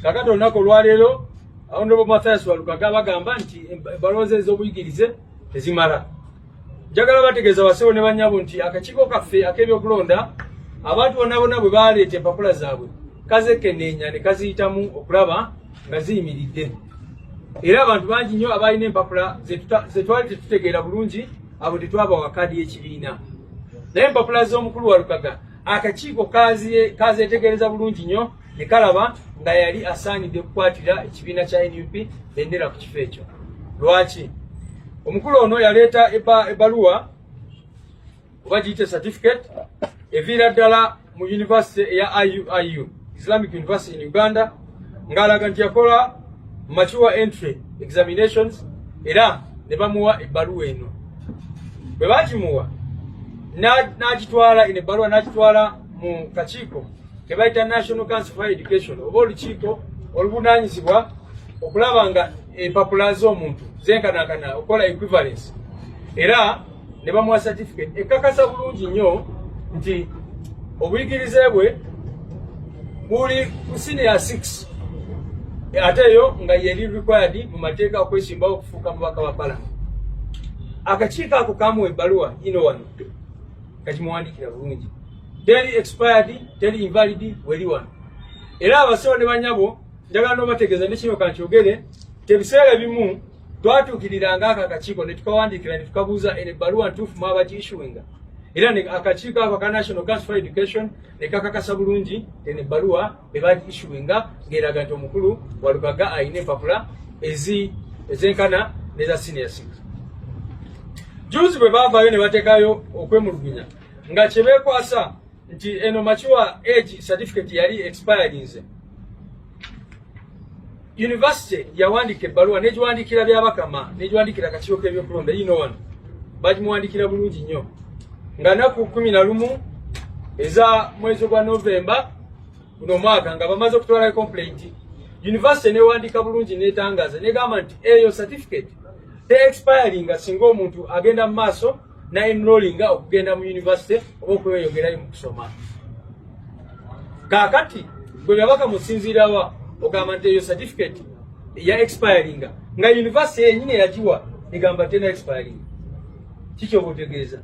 kakati olunaku olwaleero awonobo mathias walukaga bagamba nti ebalooza ez'obuyigirize tezimala njagala bategeeza basebo ne banyabo nti akakiiko kaffe ak'ebyokulonda abantu bonna bonna bwe baleeta empapula zaabwe kazekeneenya ne kaziyitamu okulaba nga ziyimiridde era abantu bangi nnyo abalina empapula zetwali tetutegeera bulungi abo tetwabawa kaadi y'ekibiina naye empapula z'omukulu walukaga akakiiko kazetegereza bulungi nnyo ne kalaba nga yali asaanidde okukwatira ekibiina kya nup bendera ku kifo ekyo lwaki omukulu ono yaleeta ebbaluwa oba giyite certificate eviira ddala mu univesity eya iuiu islamic university in uganda ng'alaga nti yakola mature entry examinations era ne bamuwa ebbaluwa eno bwe bagimuwa n'agitwala eno ebbaluwa n'agitwala mu kakiiko kebayita national council for education oba olukiiko oluvunanyizibwa okulaba nga empapula z'omuntu zenkanankana okukola equivalence era ne bamuwa certificate ekakasa bulungi nnyo nti obuyigirize bwe buli ku senior 6 ate eyo nga yeri required mu mateeka okwesimbawo okufuuka mubaka wa pala akakiiko ako kamuwa ebbaluwa ino wano kakimuwandiikira bulungi teri expired teri invalid weli wano era abasawo ne banyabo njagala nobategeeza nekino kankyogere tebiseera ebimu twatuukiriranga ako akakiiko ne tukawandiikira ne tukabuuza eno ebbaluwa ntuufu mwaba giishuinga era akakiiko ako aka national council for education ne kakakasa bulungi eno ebbaluwa eba giishuinga ng'eraga nti omukulu walugaga alina empapula ezi ezenkana neza senior six juzi bwe baavaayo ne batekayo okwemulugunya nga kye beekwasa nti eno makiwa age certificate yali expirinze yunivasite yawandiika ebbaluwa negiwandiikira byabakama negiwandiikira akakiiko k'ebyokulonda yino wano bagimuwandiikira bulungi nnyo nga naku kumi na lumu eza mwezi gwa novemba guno omwaka nga bamaze okutwala complaint yunivasite newandiika bulungi netangaza negamba nti eyo certificate te expiringa singa omuntu agenda mu maaso naenrolinga okugenda mu yunivasite oba okweyongerayo mu kusoma kakati gwe byabaka musinziirawa ogamba nti eyo certificate eya expiringa nga yunivasite yenyini eyagiwa egamba tena expiringa kikyoba otegeeza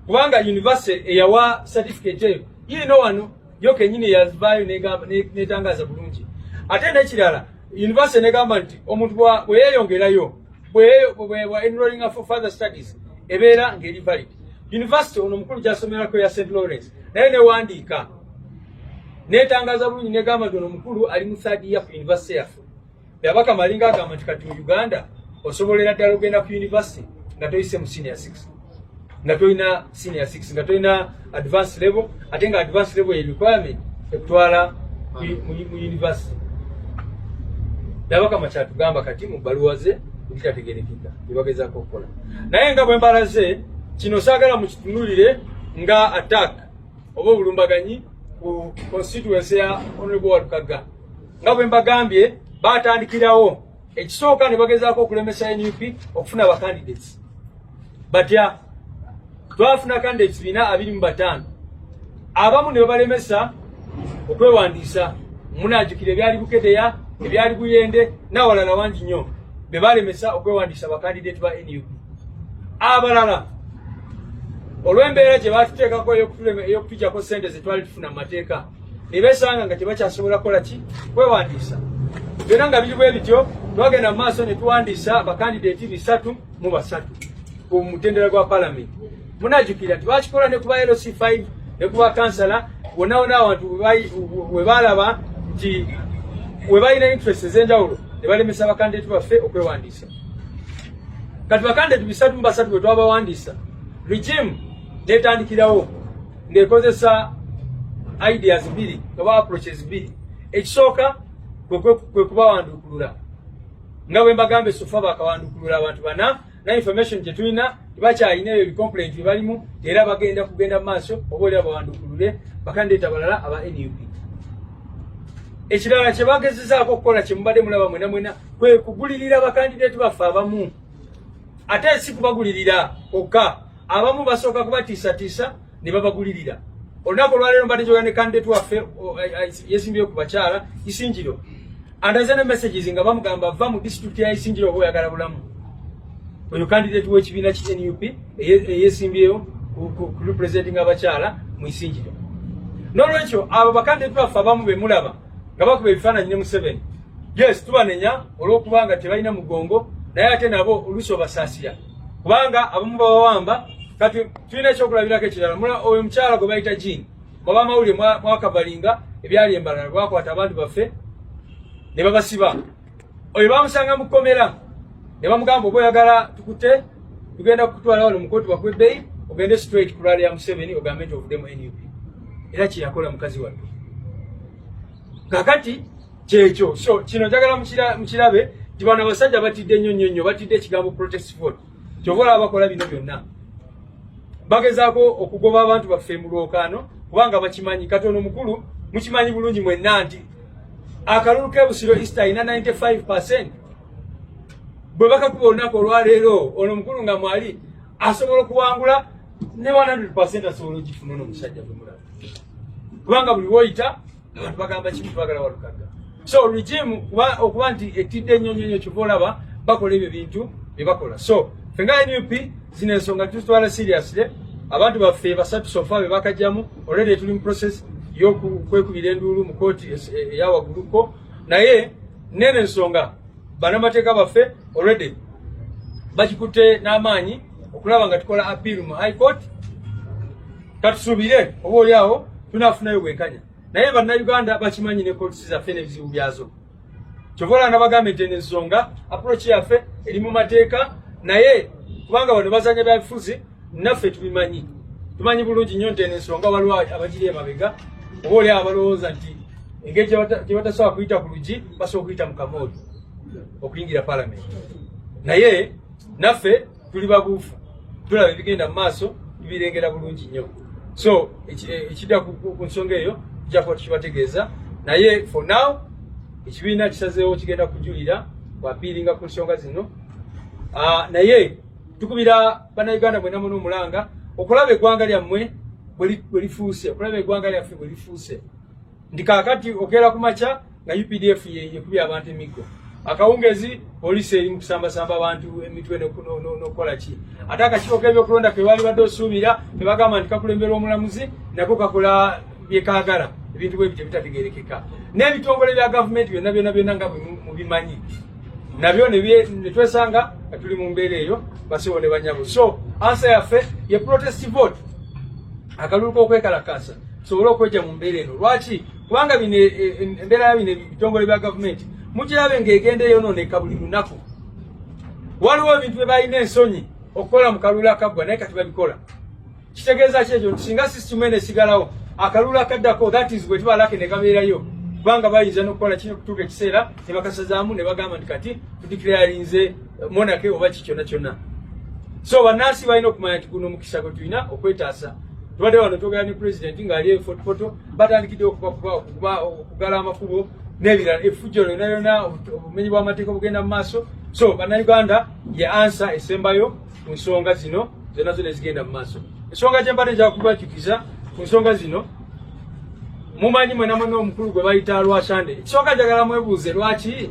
kubanga yunivasite eyawa certificate eyo yiino wano yo kenyini yazvayo netangaza bulungi ate nekirala university negamba nti omuntu bweyeyongerayo enrollinga for further studies ebeera ngeri valid university ono omukulu gyasomerako ya st lawrence naye newandiika netangaza bulungi negamba nti ono omukulu ali mu third year ku university yaffe Byabaka malinga agamba nti kati mu Uganda osobolera ddala ogenda ku university nga toyise mu senior 6 nga tolina senior 6 nga tolina advance level ate nga advance level ye requirement ekutwala mu university nabakama kyatugamba kati mu bbaluwa ze bitategerekeka byebagezako okukola naye nga bwembala ze kino saagala mukitunulire nga attack oba obulumbaganyi ku constituency ya honorable walukaga nga bwe mbagambye baatandikirawo ekisooka ne bagezaako okulemesa nup okufuna bacandidates batya twafuna candidates bina abiri mu bataano abamu ne babalemesa okwewandiisa munajukira ebyali bukedeya ebyali buyende nawalala wangi nnyo be balemesa okwewandiisa bacandidates ba nup abalala olw'embeera gye baatuteekako ey'okutujako ssente ze twali tufuna mu mateeka ne beesanga nga tebakyasobola kukola ki kwewandiisa byonna nga biri bwe bityo twagenda mu maaso ne tuwandiisa abakandideeti bisatu mu basatu ku mutendera gwa palamenti munajukira twakikola ne kuba lc 5 ne kuba kansala wonawona abantu we baalaba nti we balina interest ez'enjawulo ne balemesa abakandideeti baffe okwewandiisa kati bakandideeti bisatu mu basatu bwe twabawandiisa regimu netandikirawo ng'ekozesa ideas bbiri oba approaches bbiri ekisooka kwe kubawandukulula nga bwe mbagambye sofa bakawandukulula abantu bana na information gye tulina tebakyalina ebyo bicomplaint bye balimu era bagenda kugenda mu maaso oba olya bawandukulule bakandeeta balala aba nup ekirala kyebagezezaako okukola kyemubadde mulaba mwena mwena kwe kugulirira bakandideeti baffe abamu ate si kubagulirira okka abamu basooka kubatiisatiisa ne babagulirira olunaku olwaleero mbadde kyoga ne kandidate waffe eh, eh, yesimbyeyo ku bakyala isingiro andaze ne messages nga bamugamba va mu district ya isingiro oba oyagala bulamu oyo kandidate w'ekibiina ki nup eyesimbyeyo ku representing abakyala mu isingiro n'olwekyo abo bakandidate baffe abamu bemulaba nga bakuba ebifaananyi ne museveni yes tubanenya olw'okubanga tebalina mugongo naye ate nabo oluusi obasaasira kubanga abamu bawawamba kati tulina ekyokulabirako ekirala mula oyo omukyala gwe bayita jini oba amawulire mwakavalinga ebyali embalala bwakwata abantu baffe ne babasiba oyo bamusanga mu kkomera ne bamugamba oba oyagala tukute tugenda kukutwala wano mukooti bakwebbeyi ogende straight ku lwali ya museveni ogambe nti ovudde mu nup era kyeyakola mukazi wattu kakati kyekyo so kino njagala mukirabe nti bano abasajja batidde nnyo nnyo nnyo batidde ekigambo protest vote kyova olaba bakola bino byonna bagezaako okugoba abantu baffe mu lwokaano kubanga bakimanyi katono mukulu mukimanyi bulungi mwenna nti akalulu kebusiro east alina 95 percent bwe bakakuba olunaku olwaleero ono mukulu nga mwali asobola okuwangula ne 100 percent asobola ogifuna ono omusajja gwe mulaba kubanga buli woyita abantu bagamba kimu twagala walukagga so regime okuba nti etidde ennyo nnyo nnyo kyova olaba bakola ebyo bintu bye bakola so fe nga nup zino ensonga tuzitwala seriously abantu baffe basatu sofa be bakajjamu olwedde tuli mu process yokwekubira enduulu mu kooti eyawagguluko naye nene ensonga banamateeka baffe olwedde bakikutte n'amaanyi okulaba nga tukola appeal mu high court katusubire oba oli awo tunafunayo bwenkanya naye bannayuganda bakimanyi ne kotisi zaffe n'ebizibu byazo kyova olaba nabagamba nti eno ensonga approach yaffe eri mu mateeka naye kubanga bano bazanya byabifuzi naffe tubimanyi tumanyi bulungi nnyo nti eno ensonga waliwo abagiri emabega oba oli awo balowooza nti engeri gyebatasobola kuyita ku lugi basobola okuyita mu kamooli okuyingira palamenti naye naffe tuli babuufu tulaba ebigenda mu maaso tubirengera bulungi nnyo so eh, ekidda ku nsonga eyo tujja kuba tukibategeeza naye for now ekibiina kisazeewo kigenda kujulira wapiiringa ku nsonga zino ah, naye tukubira bannayuganda mwena muna omulanga okulaba eggwanga lyammwe bwe lifuuse okulaba eggwanga lyaffe bwe lifuuse ndi kakati okera kumacha nga UPDF yekubya abantu emiggo akawungezi poliisi eri mukusambasamba abantu emitwe nokukola ki ate akakiiko kebyokulonda kebaali badde osuubira tebagamba nti kakulemberwa omulamuzi nako kakola byekagala ebintu bwe bityo bitategerekeka n'ebitongole bya gavumenti byonna byonna byonna nga mubimanyi nabyo netwesanga tuli mu mbeera eyo basiwo ne banyabo so ansa yaffe ye protest vote akalulu k'okwekalakaasa tusobole okwejja mu mbeera eno lwaki kubanga bino e, e, e, embeera ya bino ebitongole bya gavumenti mukirabe ng'egenda eyonooneka buli lunaku waliwo ebintu bye balina ensonyi okukola mu kalulu akaggwa naye kati babikola kitegeeza ki ekyo nti singa sisitimu eno esigalawo akalulu akaddako that is bwe tuba lake ne kabeerayo kubanga bayinza n'okukola kino okutuuka ekiseera ne bakasazaamu ne bagamba nti kati tudikirayalinze monake oba kikyona kyona so banansi balina okumanya nti guno omukisa gwe tulina okwetaasa tubadde wano twogera ne president ng'ali efotofoto batandikidde okubakuba okuba okugala amakubo n'ebirala efujjo lyona yona obumenyi bw'amateeka obugenda mu maaso so bannayuganda ye ansa esembayo ku nsonga zino zona zona ezigenda mu maaso ensonga gyembadde njakubajukiza ku nsonga zino mumanyi mwenamwena omukulu gwe bayita lwasande ekisooka njagala mwebuuze lwaki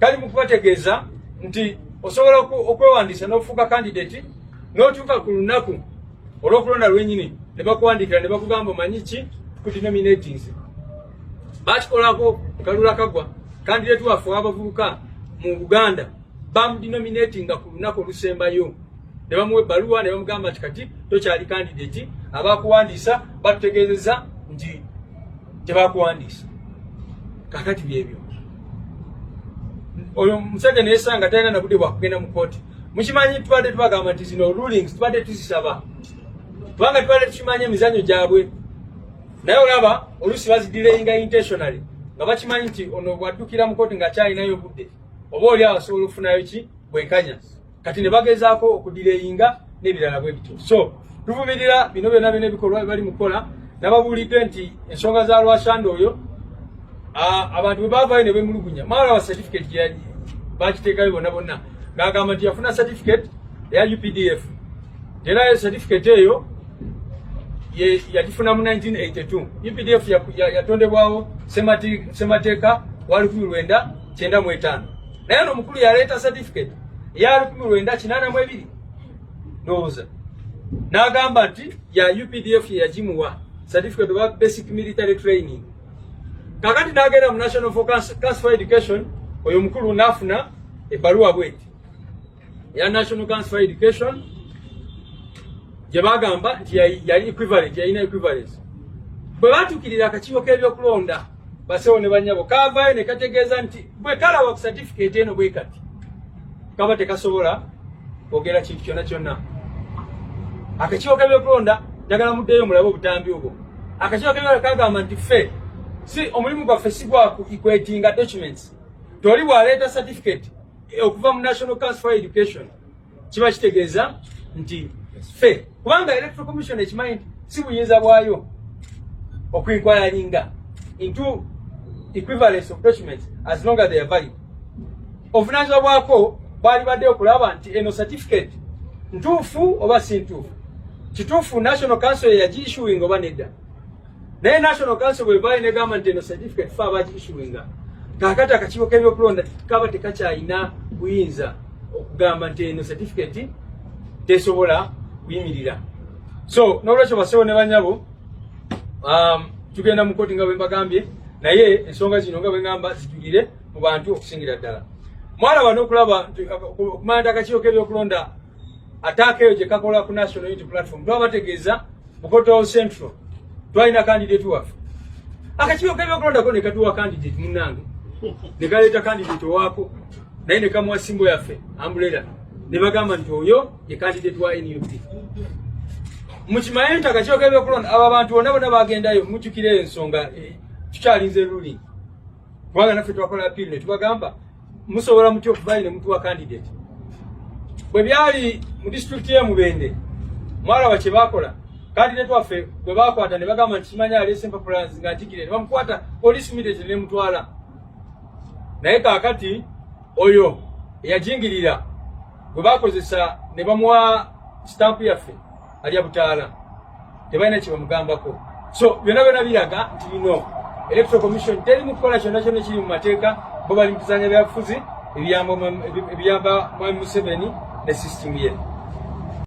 kali mu kubategeeza nti osobola okwewandiisa n'ofuuka kandidati n'otuuka ku lunaku olw'okulonda lwenyini ne bakuwandiikira ne bakugamba omanyi ki ku denominating ze bakikolako kalula kagwa kandidati waffe wabavubuka mu uganda bamudenominatinga ku lunaku olusembayo ne bamuwa ebbaluwa ne bamugamba nti kati tokyali kandidati abakuwandiisa batutegeezeza nti tebakuwandiisa kakati byebyo oyo omusajja neyesanga talina nabude bwakugenda mukooti mukimanyi tubadde tubagamba nti zino rulings tubadde tuzisaba kubanga tubadde tukimanyi emizanyo gyabwe naye olaba olusi bazidireyinga intentionally nga bakimanyi nti ono bwaddukira mukooti nga akyalinayo obudde oba oli awo asobola okufunayo ki bwenkanya kati ne bagezaako okudireyinga n'ebirala bwe bityo so tuvumirira bino byona byona ebikolwa bye bali mu kukola nababuulidde nti ensonga za lwasanda oyo abantu bwe baavayo ne bemulugunya maala wa certificate gyeyaji bakiteekayo bonna bonna ng'agamba nti yafuna certificate eya updf era eyo certificate eyo yagifuna mu 1982 updf yatondebwawo semateeka wa lukumi lwenda kyenda mu etaano naye no mukulu yaleeta certificate eya lukumi lwenda kinaana mu ebiri ndowooza n'agamba nti ya updf ye yagimuwa certificate oba basic military training kakati n'agenda mu national for cancer education oyo mukulu n'afuna ebbaluwa bweti eya National Council for Education gye bagamba nti yali equivalent yalina equivalence bwe batuukirira akakiiko k'ebyokulonda basewo ne banyabo kaavaayo ne kategeeza nti bwe kalaba ku certificate eno bwe kati kaba tekasobola kwogera kintu kyonna kyonna akakiiko k'ebyokulonda njagala muddeyo mulabe obutambi obwo akakiiko k'ebyokulonda kagamba nti ffe si omulimu gwaffe si gwa kwetinga documents toli bwaleeta certificate Eh, okuva mu national council for education kiba kitegeeza nti fe kubanga electoral commission ekimanyi nti si buyinza bwayo okuinquiringa into equivalence of documents as long as they are valid obuvunanyizibwa bwako bwali badde okulaba nti eno certificate ntuufu oba si ntuufu kituufu national council yeyagiissuing oba nedda naye national council bwevayo negamba nti eno certificate fe abakiisuinga kakati akakiiko kebyokulonda kaba tekakyalina buyinza okugamba nti eno certificate tesobola kuyimirira so nolwekyo basewo ne banyabo um, tugenda mu koti nga bwembagambye naye ensonga zino nga bwengamba zijulire mu bantu okusingira ddala mwana bano okulaba okumanya nti akakiiko kebyokulonda ataaka eyo gyekakola ku national unity platform twabategeeza Bukoto Central twalina candidate waffe akakiiko kebyokulondako ne katuwa candidate munnange ne kaleeta candidate owaako naye ne kamuwa simbo yaffe ambulera ne bagamba nti oyo ye candidate wa nup mukimanye nti akakiiko kebyokulonda abo abantu bonna bonna bagendayo mujjukira ensonga eh, tukyalinze ruling kubanga naffe twakola appeal ne tubagamba musobola mutya okubayi ne mutuwa candidate bwe byali mu disitulikiti ye mubende mwalaba kye baakola candidate waffe bwe baakwata ne bagamba nti kimanya aleese empapula nga atigire ne bamukwata police immediately ne mutwala naye kaakati oyo eyajingirira gwe bakozesa ne bamuwa sitampu yaffe alya butaala tebalina kyebamugambako so byona byona biraga nti bino electoral commission teri mukukola kyona kyona kiri mu mateeka bo bali mukuzanya byabufuzi ebiyamba mwami museveni ne system ye